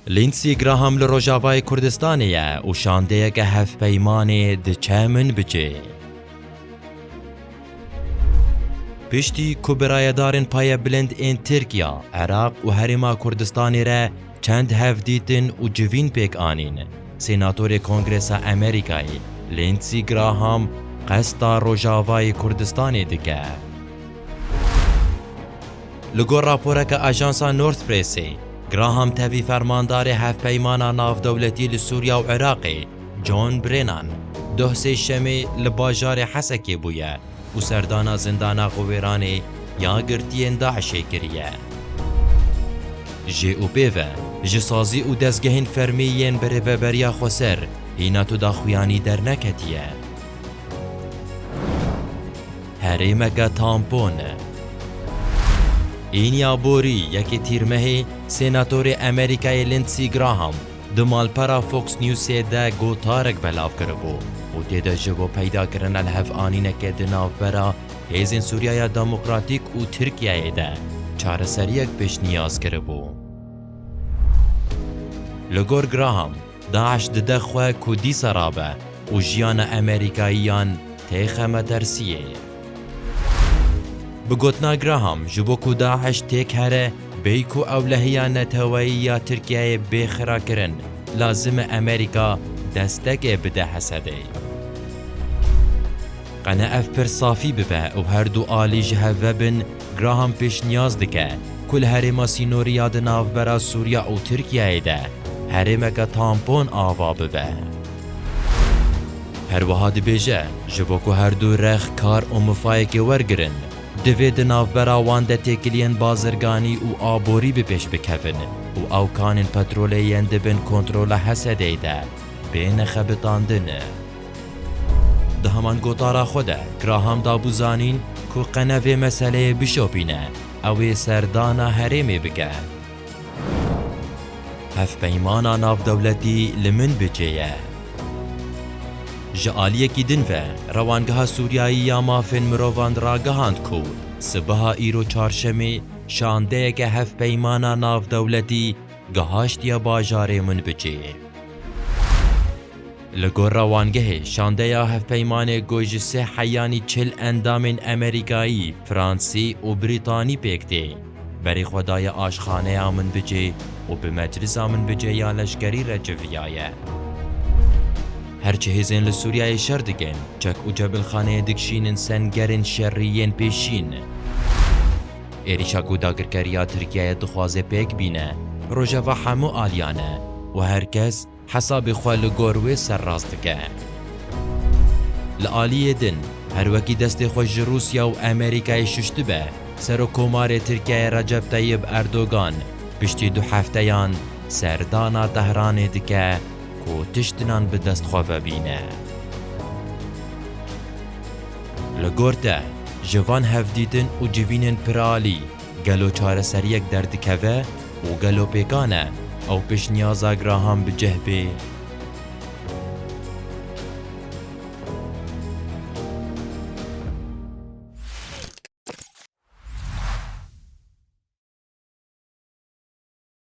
Lindsey Graham li Rojavayê Kurdistanê ye û şandeyeke hevpeymanê diçe min bi cê. Piştî ku bi rayedarên payebilind ên Tirkiya, Iraq û Herêma Kurdistanê re çend hev dîtin û civîn pêk anîn, Sênatorê Kongresa Amerîkayê Lindsey Graham qesta Rojavayê Kurdistanê dike. Li gor raporeke ajansa North Pressê, Graham tevî fermandarê Hevpeymana Navdewletî li Sûriya û Iraqê John Brennan doh sê şemê li bajarê Hesekê bûye û serdana zindana xwe wêranê ya girtiyên DAIŞ'ê kiriye. Jê û pê ve, ji sazî û dezgehên fermî yên bi rêveberiya Xweser hîna tu daxuyanî derneketiye. Herêmeke tampon e. Înya borî yekê Tîrmehê Sênatorê Amerîkayê Lindsey Graham di malpera Fox Newsê de gotarek belav kiribû û tê de ji bo peydakirina lihevanîneke di navbera Hêzên Sûriyaya Demokratîk û Tirkiyeyê de çareseriyek pêşniyaz kiribû. Li gor Graham, Daeş dide xwe ku dîsa rabe û jiyana Emerîkayiyan tê xemetersiyê. Bi gotina Graham ji bo ku Daeş têk here bêy ku ewlehiya neteweyî ya Tirkiyeyê bê xirakirin, lazim e Emerîka destekê bide Hesedê. Qene ev pir safî bibe û her du alî ji hev ve bin Graham pêşniyaz dike ku li herêma sînorî ya di navbera Sûriya û Tirkiyeyê de herêmeke tampon ava bibe. Herwiha dibêje ji bo ku her du rex kar û mifayekê wergirin, divê di navbera wan de têkiliyên bazirganî û aborî bi pêş bikevin û ew kanên petrolê yên di bin kontrola Hesedê de bêne xebitandin. Di heman gotara xwe de Graham dabû zanîn ku qene vê meseleyê bişopîne, ew ê serdana herêmê bike. Hevpeymana navdewletî li min bi cê ye. Ji aliyekî din ve Rewangeha Sûriyayî ya Mafên Mirovan ragihand ku sibeha îro Çarşemê şandeyeke hevpeymana navdewletî gihaştiye bajarê min bi cê. Li gor rewangehê, şandeya hevpeymanê ku ji sê heyanî çil endamên Amerîkayî, Fransî û Brîtanî pêk tê, berê xwe daye aşxaneya Minbicê û bi Meclisa Minbicê ya leşkerî re civiyaye. Her çi hêzên li Sûriyeyê şer dikin, çek û cebilxaneyê dikişînin sengerên şerî yên pêşîn. Êrîşa ku dagirkeriya Tirkiyeyê dixwaze pêk bîne, rojeva hemû aliyan e û her kes, Hesabê xwe li gor wê serrast dike. Li aliyê din, her wekî destê xwe ji Rûsya û Amerîkayê şuştibe, Serokkomarê Tirkiyeyê Recep Teyib Erdogan piştî du hefteyan serdana Tehranê dike ku tiştinan bi dest xwe vebîne. Li gor te, ji van hevdîtin û civînên piralî, Gelo çareseriyek derdikeve û gelo pêkan e ew pêşniyaza Graham bi cih bê?